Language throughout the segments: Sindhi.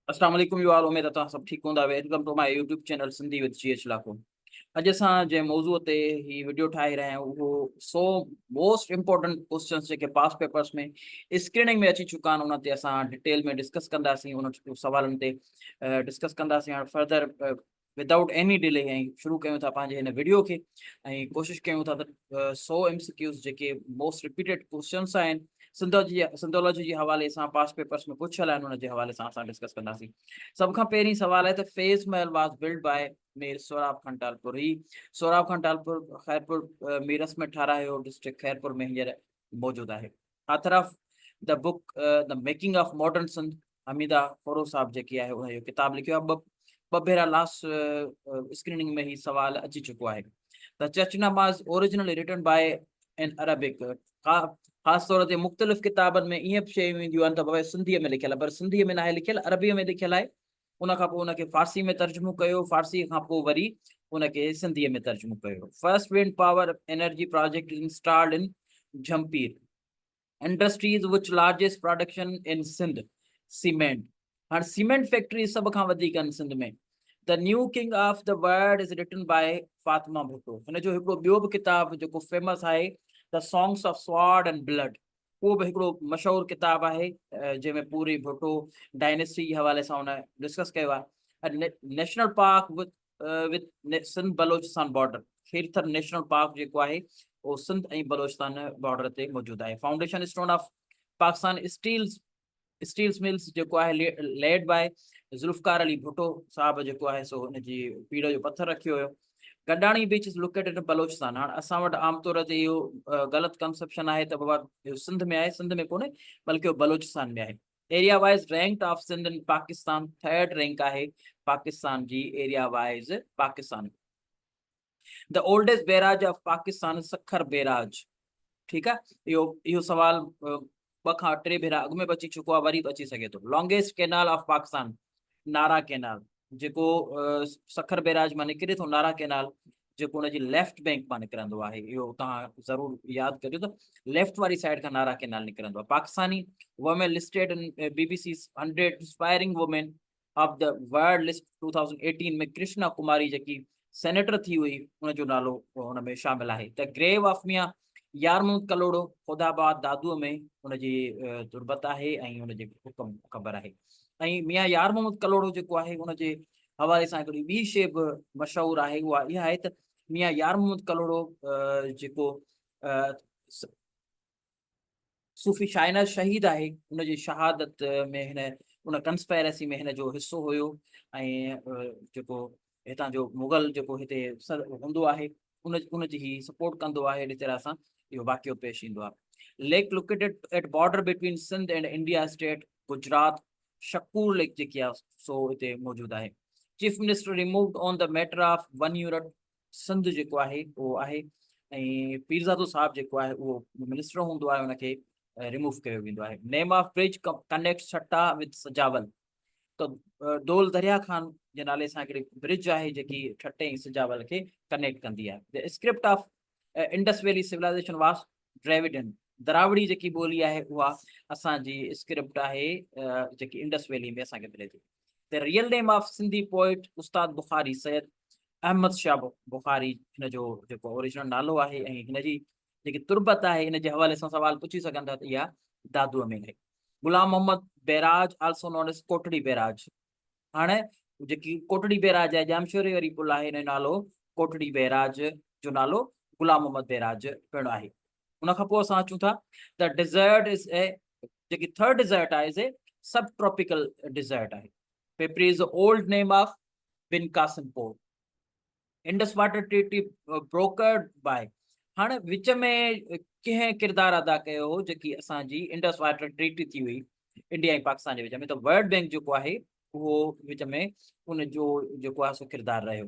السلام عليڪم يو آل اميد اتان سڀ ٺيڪ هوندا welcome to my YouTube channel Sindhi with G H Lakho اڄ اسان جنهن موضوع تي هي وڊيو ٺاهي رهيا آهيون اهو سو موسٽ امپورٽنٽ ڪوشچنس جيڪي پاس پيپرس ۾ اسڪريننگ ۾ اچي چڪا آهن ان تي اسان ڊيٽيل ۾ ڊسڪس ڪنداسين ان سوالن تي ڊسڪس ڪنداسين هاڻ فردر ودائوٽ ايني ڊلي ۽ شروع ڪيون ٿا پنهنجي هن ويڊيو کي ۽ ڪوشش ڪيون ٿا ته سو ايم سي ڪيوز جيڪي موسٽ رپيٽيڊ ڪوشچنس آهن سنڌوجي سنڌولوجي جي حوالي سان پاس پيپرس ۾ پڇيل آهن ان جي حوالي سان اسان ڊسڪس ڪنداسين سڀ کان پهرين سوال آهي ته Faiz Mahal was built by Mir Sohrab Khan Talpur هي سوراب خان ٽالپور خيرپور ميرس ۾ ٺارايو ڊسٽرڪٽ خيرپور ۾ هينئر موجود آهي author of the book the making of modern Sindh Hamida Khuhro صاحب جيڪي آهي ان جو ڪتاب لکيو آهي ٻه ٻه ڀيرا لاس اسڪريننگ ۾ هي سوال اچي چڪو آهي ته چرچ Nama original written by in Arabic خاص طور تي مختلف ڪتابن ۾ ائين به شيون اينديون آهن ته بابا سنڌيء ۾ لکيل پر سنڌيء ۾ ناهي لکيل عربيء ۾ لکيل آهي ان کان پوء ان کي فارسي ۾ ترجمو ڪيو فارسي کان پوء وري ان کي سنڌي ۾ ترجمو ڪيو first wind power energy project installed in Jhimpir industries which largest production in Sindh cement هاڻ سيمنٽ فيڪٽري سڀ کان وڌيڪ ان Sindh ۾ The New King of the World is written by Fatima Bhutto. هن جو هڪڙو ٻيو به ڪتاب جيڪو فيمس آهي The Songs of Sword and Blood. اهو به هڪڙو مشهور ڪتاب آهي جنهن ۾ پوري ڀٽو ڊائنسٽي جي حوالي سان هن ڊسڪس ڪيو آهي national park with Sindh Balochistan border Kirthar national park جيڪو آهي اهو سنڌ ۽ بلوچستان بارڊر تي موجود آهي foundation stone of Pakistan steels steels mills جيڪو آهي ليڊ باء ذوالفقار علي ڀٽو صاحب جيڪو آهي سو ان جي پيڙ جو پٿر رکيو هيو Gadani beach is located in Balochistan هاڻ اسان وٽ عام طور تي اهو غلط ڪنسپشن آهي ته بابا اهو سنڌ ۾ آهي سنڌ ۾ ڪونهي بلڪه اهو بلوچستان ۾ آهي area wise rank of Sindh in Pakistan third rank آهي پاڪستان جي area wise Pakistan The oldest Bairaj of Pakistan is Sakhar Bairaj. ٺيڪ آ اهو اهو سوال ٻه کان ٽي ڀيرا اڳ ۾ به اچي چڪو آ وري به اچي سگهي ٿو longest canal of Pakistan Nara canal جيڪو سکر بيراج مان نڪري ٿو نارا ڪينال جيڪو ان جي ليفٽ بينڪ مان نڪرندو آهي اهو توهان ضرور ياد ڪجو ته ليفٽ واري سائيڊ کان نارا ڪينال نڪرندو آهي Pakistani women listed B B C hundred inspiring women of the world list two thousand eighteen ۾ Krishna Kumari جيڪي سينيٽر ٿي هئي ان جو نالو هن ۾ شامل آهي ته گريو آف ميان يارمون ڪلوڙو خدا آباد دادو ۾ ان جي تربت آهي ۽ ان جي حڪم خبر آهي ۽ ميان يار محمد ڪلوڙو جيڪو آهي ان جي حوالي سان هڪڙي ٻي شي به مشهور آهي اها اها آهي ته ميان يار محمد ڪلوڙو جيڪو صوفي شاهناز شهيد آهي ان جي شهادت ۾ هن ان ڪنسپيرسي ۾ هن جو حصو هيو ۽ جيڪو هتان جو مغل جيڪو هتي هوندو آهي ان ان جي هي سپورٽ ڪندو آهي اهڙي طرح سان اهو واقعو پيش ايندو آهي lake located at border between Sindh and India state Gujarat Shakoor lake جيڪي آهي سو هتي موجود آهي chief minister removed on the matter of one Europe Sindh جيڪو آهي اهو آهي ۽ پيرزادو صاحب جيڪو آهي اهو منسٽر هوندو آهي ان کي ريموو ڪيو ويندو آهي name of bridge connect Thatta with Sujawal ته ڊول دريا خان جي نالي سان هڪڙي برج آهي جيڪي ٺٽي ۽ سجاول کي ڪنيڪٽ ڪندي آهي script of Indus valley civilization was ڊريوڊن دراوڙي جيڪي ٻولي آهي اها اسانجي اسڪرپٽ آهي جيڪي انڊس ويلي ۾ اسانکي ملي ٿي ته real name of Sindhi poet Ustad Bukhari Syed Ahmed Shah Bukhari هن جو جيڪو اوريجنل نالو آهي ۽ هن جي جيڪي تربت آهي ان جي حوالي سان سوال پڇي سگهن ٿا ته اها دادوء ۾ آهي غلام محمد بيراج آلسو نون از ڪوٽڙي بيراج هاڻي جيڪي ڪوٽڙي بيراج آهي ڄامشوري واري پل آهي نالو ڪوٽڙي بيراج جو نالو غلام محمد بيراج پڻ آهي ان کان پوء اسان اچون ٿا ته ڊيزرٽ از اي جيڪي ٿرڊ ڊيزرٽ آهي سي سب ٽراپيڪل ڊيزرٽ آهي Pipri is old name of Bin Qasim Pur Indus water treaty broker by هاڻي وچ ۾ ڪنهن ڪردار ادا ڪيو هو جيڪي اسان جي انڊس واٽر ٽريٽي ٿي هئي انڊيا ۽ پاڪستان جي وچ ۾ ته ورلڊ بئنڪ جيڪو آهي اهو وچ ۾ ان جو جيڪو آهي سو ڪردار رهيو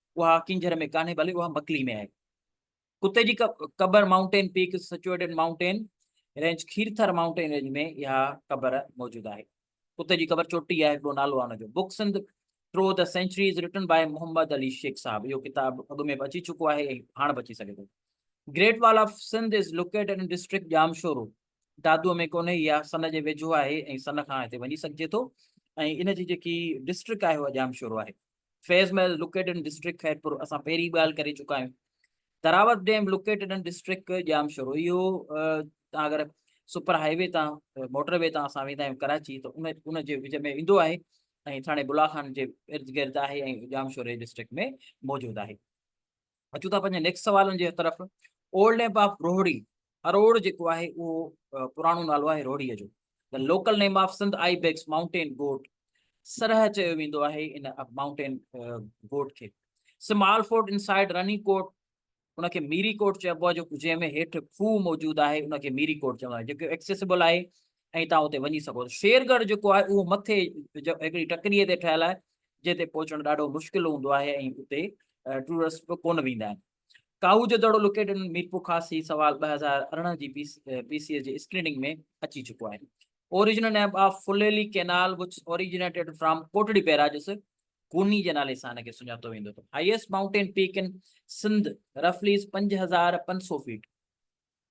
اها ڪينجهر ۾ ڪانهي بلڪ اها مڪلي ۾ آهي. ڪتي جي قبر mountain peaks situated mountain range Kirthar mountain range ۾ اها قبر موجود آهي. ڪتي جي قبر چوٽي آهي هڪڙو نالو آهي ان جو book Sindh through the centuries written by Muhammad Ali Shaikh sahib اهو ڪتاب اڳ ۾ به اچي چڪو آهي ۽ هاڻ به اچي سگهي ٿو great wall of Sindh is located in district Jamshoro Dadu ۾ ڪونهي اها سن جي ويجهو آهي ۽ سن کان هتي وڃي سگهجي ٿو ۽ ان جي جيڪي ڊسٽرڪٽ آهي اها ڄامشورو آهي Faiz Mahal located in district Khairpur اسان پهرين ڳالهه ڪري چڪا آهيون Darawat dam located in district Jam Shoro اهو تان اگر سپر هاء وي تان موٽر وي تان اسان ويندا آهيون ڪراچي ته ان ان جي وچ ۾ ايندو آهي ۽ ٿاڻي بلا خان جي ارد گرد آهي ۽ ڄام شوري ڊسٽرڪٽ ۾ موجود آهي اچون ٿا پنهنجي نيڪسٽ سوالن جي طرف old name of Rohri Aror جيڪو آهي اهو پراڻو نالو آهي روهڙي جو local name of Sindh I bags mountain goat سرح چيو ويندو آهي ان ماؤنٽين گوٽ کي small fort inside Rani Kot ان کي ميري ڪوٽ چئبو آهي جو جنهن ۾ هيٺ کوهه موجود آهي ان کي ميري ڪوٽ چئبو آهي جيڪو ايڪسيسبل آهي ۽ توهان اتي وڃي سگهو ٿا. شير ڳڙهه جيڪو آهي اهو مٿي هڪڙي ٽڪريء تي ٺهيل آهي جنهن تي پهچڻ ڏاڍو مشڪل هوندو آهي ۽ اتي ٽوئرسٽ به ڪونه ويندا آهن. ڪاهو جو دڙو لوڪيٽيڊ ان ميرپور خاص هي سوال ٻه هزار ارڙهن جي پي سي ايس جي اسڪريننگ ۾ اچي چڪو آهي. Original name of Phuleli canal which originated from Kotri barrages Guni جي نالي سان هن کي سڃاتو ويندو ٿو. Highest mountain peak in Sindh رفلي از پنج هزار پنج سؤ feet.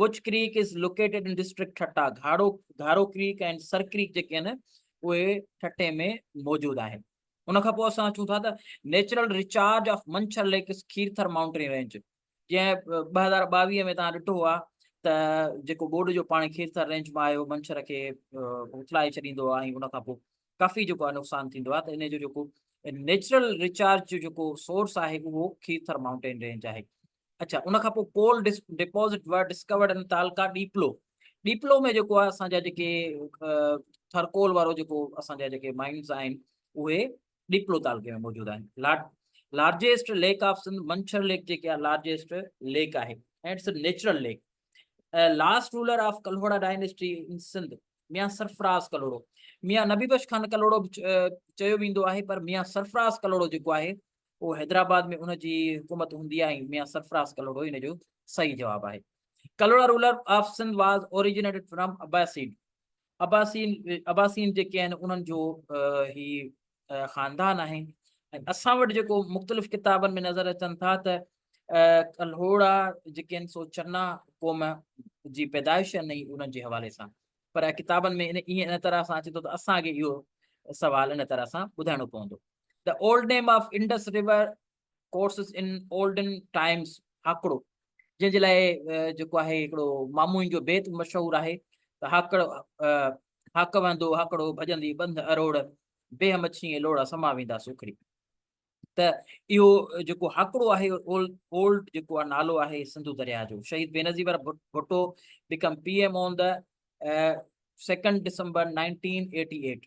Which creek is located in district Thatta, Gharo Gharo creek ۽ Sir creek جيڪي آهن اهي ٺٽي ۾ موجود آهن. ان کان پوء اسان اچون ٿا ته natural recharge of Manchar lakes Kirthar mountain range جنهن ٻه هزار ٻاويهه ۾ توهان ڏٺو آهي ته جيڪو ٻوڏ جو پاڻي کيرٿر رينج مان آيو منڇر کي اٿلائي ڇڏيندو آهي ۽ ان کان پوء ڪافي جيڪو آهي نقصان ٿيندو آهي ته ان جو جيڪو نيچرل ريچارج جو جيڪو سورس آهي اهو کيرٿر مائونٽين رينج آهي اڇا ان کان پوء coal deposit were discovered in تعلقه ڏيپلو ڏيپلو ۾ جيڪو آهي اسان جا جيڪي ٿرڪول وارو جيڪو اسان جا جيڪي مائنز آهن اهي ڏيپلو تعلقي ۾ موجود آهن largest lake of Sindh Manchar lake جيڪي آهي لارجيسٽ ليڪ آهي and it's a natural lake last ruler of Kalhora dynasty in Sindh Mian Sarfaraz Kalhoro Mian Nabi Bux Khan Kalhoro به چيو ويندو آهي پر ميان سرفراز ڪلهوڙو جيڪو آهي اهو حيدرآباد ۾ ان جي حڪومت هوندي آهي ۽ ميان سرفراز ڪلهوڙو ان جو صحيح جواب آهي. Kalhora ruler of Sindh was originated from Abbasin. Abbasin عباسين جيڪي آهن انهن جو هي خاندان آهي ۽ اسان وٽ جيڪو مختلف ڪتابن ۾ نظر اچن ٿا ته ڪلهوڙا جيڪي آهن سو چنا قوم جي پيدائش آهن ۽ انهن جي حوالي سان پر ڪتابن ۾ ان ائين ان طرح سان اچي ٿو ته اسان کي اهو سوال ان طرح سان ٻڌائڻو پوندو. The old name of Indus River courses in olden times Hakro جنهن جي لاء جيڪو آهي هڪڙو ماموئن جو بيت مشهور آهي ته هاڪڙ هاڪ وهندو هاڪڙو ڀڄندي بند اروڙ بيهه مڇي ۽ لوڙا سما ويندا سوکڙي ته اهو جيڪو هاڪڙو آهي اولڊ جيڪو آهي نالو آهي سنڌو درياء جو Shaheed Benazir Bhutto became P M on the second December nineteen eighty eight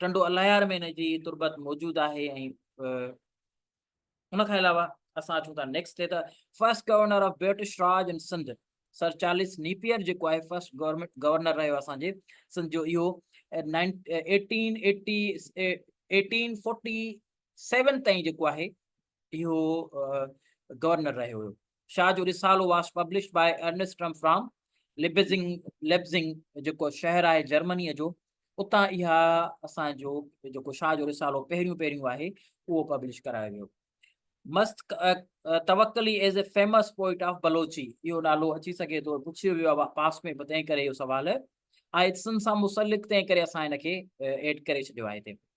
Tando Allahyar ۾ ان جي تربت موجود آهي ۽ ان کان علاوه اسان اچون ٿا نيڪسٽ تي ته first governor of British Raj in Sindh sir Charles Napier جيڪو آهي فرسٽ گورنمنٽ گورنر رهيو اسان جي سنڌ جو اهو eighteen eighty eighteen forty seven تائين جيڪو آهي اهو گورنر رهيو هيو. شاهه جو Risalo was published by Ernst Trumpp from Leipzig Lebzing جيڪو شهر آهي جرمنيء جو اتان اها اسان جو جيڪو شاهه جو رسالو پهريون پهريون آهي اهو پبلش ڪرايو ويو. Mast Tawakli is a famous poet of Balochi اهو نالو اچي سگهي ٿو پڇيو ويو آهي پاس ۾ تنهن ڪري اهو سوال آهي اتسن سان مسلڪ تنهن ڪري اسان هن کي ايڊ ڪري ڇڏيو آهي هتي.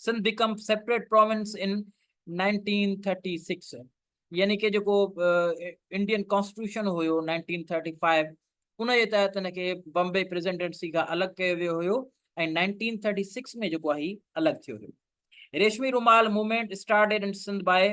Sindh became separate province in nineteen thirty six يعني ڪي جيڪو انڊين ڪانسٽيٽيوشن هيو نائنٽين ٿرٽي فائيو ان جي تحت ان کي بمبي پريزيڊنسي کان الڳ ڪيو ويو هيو ۽ نائنٽين ٿرٽي سڪس ۾ جيڪو آهي الڳ ٿيو هيو Reshmi Rumal movement started in Sindh by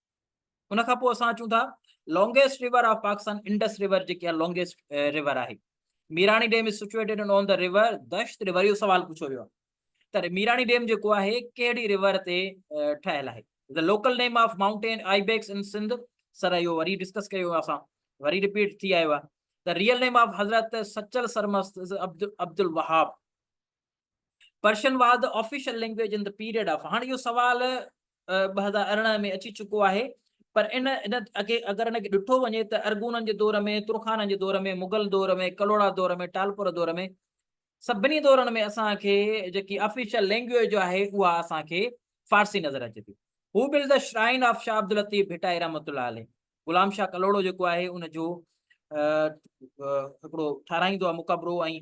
ان کان پوء اسان اچون ٿا longest river of Pakistan Indus river جيڪي آهي لانگيسٽ ريور آهي Mirani dam is situated on the river دشت ريور اهو سوال پڇيو ويو آهي ته ميراڻي ڊيم جيڪو آهي ڪهڙي ريور تي ٺهيل آهي the local name of mountain آئي بيڪس ان سنڌ سر اهو وري ڊسڪس ڪيو اسان وري رپيٽ ٿي آيو آهي the real name of Hazrat Sachal Sarmast Abd Abd Alwahab Persian was the official language in the period of هاڻ اهو سوال ٻه هزار ارڙهن ۾ اچي چڪو آهي پر ان ان اڳي اگر ان کي ڏٺو وڃي ته ارغونن جي دور ۾ ترخانن جي دور ۾ مغل دور ۾ ڪلهوڙا دور ۾ ٽالپور دور ۾ سڀني دورن ۾ اسان کي جيڪي آفيشل لينگويج جو آهي اها اسان کي فارسي نظر اچي ٿي هو built shrine of Shah Abdul Latif Bhittai رحمت الله عليه غلام شاهه ڪلهوڙو جيڪو آهي ان جو هڪڙو ٺهرائيندو آهي مقبرو ۽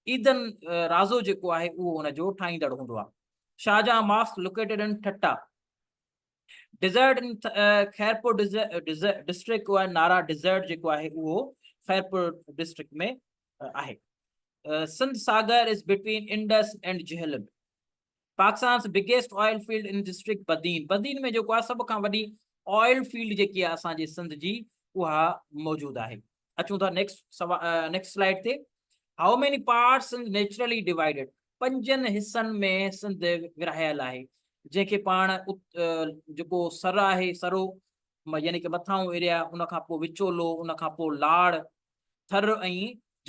عيدن رازو جيڪو آهي اهو ان جو ٺاهيندڙ هوندو آهي Shahjahan mosque located in Thatta desert in Khairpur district آهي نارا ڊيزرٽ جيڪو آهي اهو خيرپور ڊسٽرڪٽ ۾ آهي Sindh Sagar is between Indus and Jhelum Pakistan's biggest oil field in district Badin Badin ۾ جيڪو آهي سڀ کان وڏي آئل فيلڊ جيڪي آهي اسان جي سنڌ جي اها موجود آهي اچون ٿا نيڪسٽ سوا نيڪسٽ سلائيڊ تي how many parts Sindh naturally divided پنجن حصن ۾ سنڌ ورهايل آهي جنهن کي پاڻ جيڪو سر آهي سرو يعني ڪي مٿاهون ايريا ان کان پوء وچولو ان کان پوء لاڙ ٿر ۽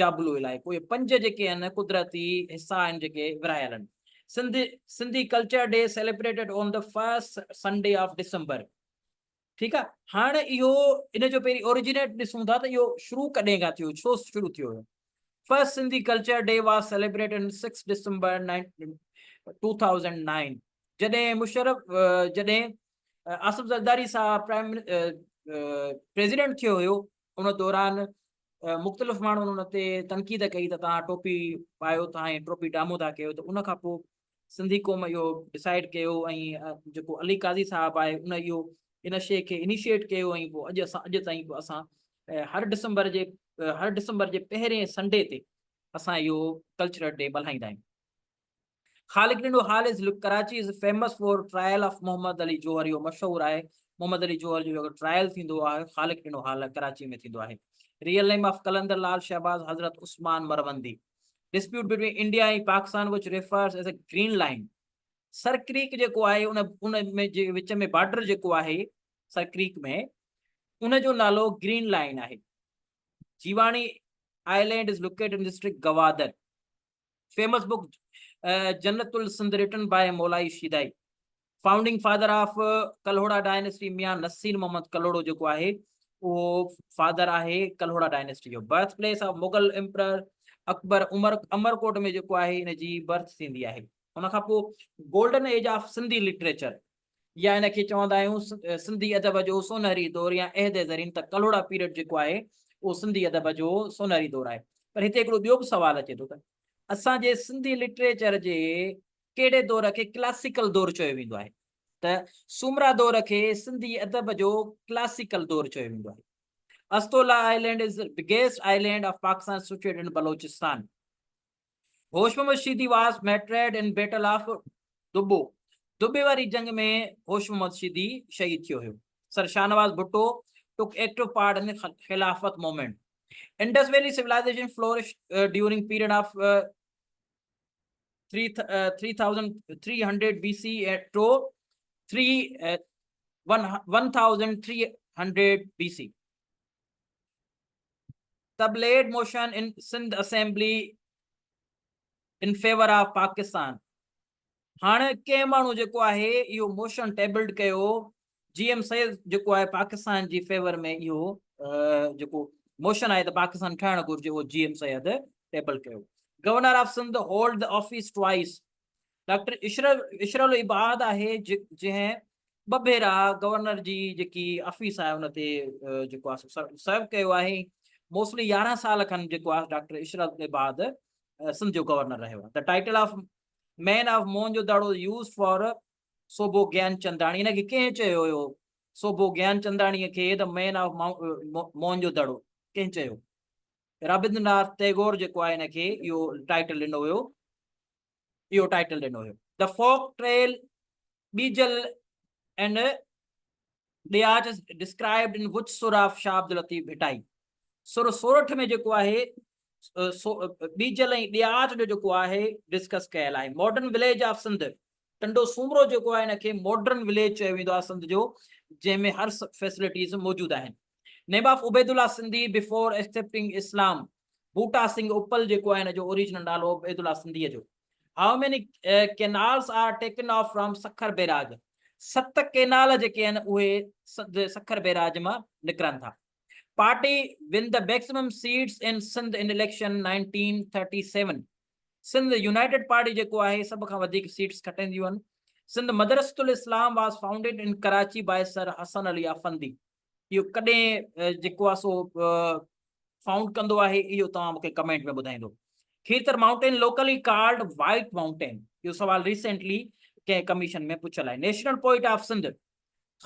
جابلو علائقو اهي پنج جيڪي آهن قدرتي حصا آهن جيڪي ورهايل آهن Sindh Sindhi culture day celebrated on the first Sunday of December ٺيڪ آهي هاڻ اهو ان جو پهرين اوريجينيٽ ڏسون ٿا ته اهو شروع ڪڏهن کان ٿيو ڇو شروع ٿيو هيو first Sindhi culture day was celebrate in six December two thousand nine جڏهن مشرف جڏهن آصف زرداري صاحب پرائم پريزيڊنٽ ٿيو هيو ان دوران مختلف ماڻهن ان تي تنقيد ڪئي ته توهان ٽوپي پايو ٿا ۽ ٽوپي ڊامو ٿا ڪيو ته ان کان پوء سنڌي قوم اهو ڊسائيڊ ڪيو ۽ جيڪو علي قاضي صاحب آهي ان اهو ان شيء کي انيشيٽ ڪيو ۽ پوء اڄ اسان اڄ تائين پوء اسان هر ڊسمبر جي هر ڊسمبر جي پهرين سنڊي تي اسان اهو ڪلچرل ڊي ملهائيندا آهيون خالق ڏنو حال از لڪ Karachi is famous for trial of Muhammad Ali Jauhar اهو مشهور آهي محمد علي جوهر جو جيڪو ٽرائل ٿيندو آهي خالق ڏنو حال ڪراچي ۾ ٿيندو آهي real name of Qalandar Lal Shahbaz Hazrat Usman Marwandi dispute between India ۽ Pakistan وچ refers as a green line Sir creek جيڪو آهي ان ان ۾ جي وچ ۾ بارڊر جيڪو آهي سر ڪريڪ ۾ ان جو نالو گرين لائن آهي Jiwani island is locate in district Gwadar famous book Jannat السند written by Maulai Shedai founding father of Kalhora dynasty Mian Naseer Muhammad Kalhoro جيڪو آهي اهو فادر آهي ڪلهوڙا ڊائنسٽي جو birth place of Mughal emperor Akbar Umar Amarkot ۾ جيڪو آهي ان جي برٿ ٿيندي آهي ان کان پوء golden age of Sindhi literature يا هن کي چوندا آهيون سنڌي ادب جو سونهري دور يا عهد زرين ته ڪلهوڙا پيريڊ جيڪو آهي اهو سنڌي ادب جو سونهري دور آهي پر هتي هڪڙو ٻيو به سوال اچي ٿو ته اسان جي سنڌي لٽريچر جي ڪهڙي دور کي ڪلاسيڪل دور چيو ويندو آهي ته سومرا دور کي سنڌي ادب جو ڪلاسيڪل دور چيو ويندو آهي Astola island is biggest island of Pakistan situate in Balochistan Hosh Muhammad Sheedi was martyred in battle of Dubbo, دٻي واري جنگ ۾ هوش محمد شيدي شهيد ٿيو هيو. Sir Shahnawaz Bhutto took active part in Khilafat movement. Indus valley civilization flourished during period of three three thousand three hundred B C eight to three one one thousand three hundred B C tabled motion in Sindh assembly in favour of Pakistan هاڻ ڪنهن ماڻهو جيڪو آهي اهو موشن ٽيبلڊ ڪيو جي ايم سيد جيڪو آهي پاڪستان جي فيور ۾ اهو جيڪو موشن آهي ته پاڪستان ٺهڻ گهرجي اهو جي ايم سيد ٽيبل ڪيو governor of Sindh hold office twice doctor Ishrat ul-Ibad آهي جنهن ٻه ڀيرا گورنر جي جيڪي آفيس آهي ان تي جيڪو آهي سرو ڪيو آهي موسلي يارهن سال کن جيڪو آهي ڊاڪٽر عشر العباد سنڌ جو گورنر رهيو آهي ته title of man of Moen jo Daro used for Sobho Gian Chandani ان کي ڪنهن چيو هيو صوبو گيان چنداڻي کي ته مين آف مون جو دڙو ڪنهن چيو رابندر ناٿ ٽيگور جيڪو آهي هن کي اهو ٽائيٽل ڏنو هيو اهو ٽائيٽل ڏنو هيو. The Folk Trail Bijal and Diyach is described in which Sur of Shah Abdul Latif Bhittai Sur Sorath ۾ جيڪو آهي ٻيجل ۽ ڏياچ جو جيڪو آهي ڊسڪس ڪيل آهي modern village of Sindh Tando Soomro جيڪو آهي ان کي ماڊرن وليج چيو ويندو آهي سنڌ جو جنهن ۾ هر فيسلٽيز موجود آهن name of Obaidullah Sindhi before accepting Islam Boota Singh اپل جيڪو آهي ان جو اوريجنل نالو عبيد الله سنڌيء جو how many canals are taken off from Sukkur barrage ست ڪينال جيڪي آهن اهي سکر بيراج مان نڪرن ٿا party won the maximum seats in Sindh in election 1937 Sindh united party جيڪو آهي سڀ کان وڌيڪ سيٽس کٽينديون آهن Sindh Madrasatul Islam was founded in Karachi by sir Hassan Ali Effendi اهو ڪڏهن جيڪو آهي سو فائونڊ ڪندو آهي اهو توهان مونکي ڪمينٽ ۾ ٻڌائيندو Kirthar mountain locally called white mountain اهو سوال ريسنٽلي ڪنهن ڪميشن ۾ پڇيل آهي نيشنل پوئٽ آف سنڌ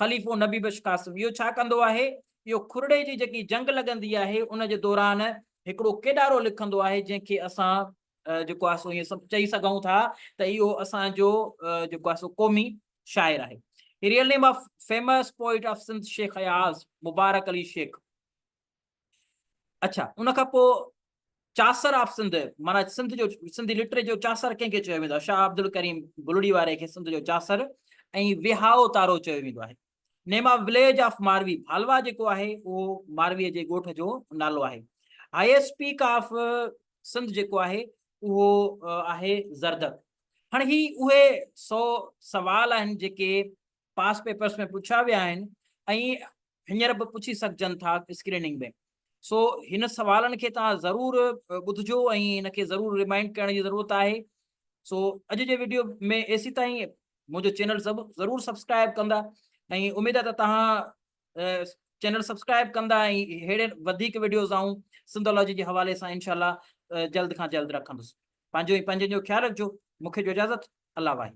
خليفو نبي بخش قاسم اهو ڇا ڪندو آهي اهو کورڙي جي جيڪي جنگ لڳندي آهي ان جي دوران هڪڙو ڪيڏارو لکندو آهي جنهن کي اسان جيڪو آهي سو ائين سڀ چئي سگهون ٿا ته اهو اسانجو جيڪو آهي سو قومي شاعر آهي. هي real name of famous poet of Sindh Sheikh Ayaz Mubarak Ali Sheikh. اڇا ان کان پوء چاسر آف سنڌ معنی سنڌ جو سنڌي لٽري جو چاسر ڪنهن کي چيو ويندو آهي شاهه عبدالڪريم بلڙي واري کي سنڌ جو چاسر ۽ وهائو تارو چيو ويندو آهي name of village of Marvi Bhalwa جيڪو آهي اهو ماروي جي ڳوٺ جو نالو آهي هائيسٽ پيڪ آف سنڌ جيڪو آهي اهو آهي زردڪ هاڻي هي اهي سو سوال آهن جيڪي پاس پيپرس ۾ پڇيا ويا آهن ۽ هينئر به پڇي سگهجن ٿا اسڪريننگ ۾ سو هن سوالن کي توهان ضرور ٻڌجو ۽ هن کي ضرور ريمائنڊ ڪرڻ جي ضرورت آهي سو اڄ جي ويڊيو ۾ ايسي تائين منهنجو چينل ضرور سبسڪرائب ڪندا ۽ اميد آهي ته توهان چينل سبسڪرائب ڪندا ۽ ههڙي وڌيڪ وڊيوز آئون سنڌولاجي جي حوالي سان انشاء الله جلد کان جلد رکندس پنهنجو ۽ پنهنجن جو خيال رکجو مون کي ڏيو اجازت الله واحد.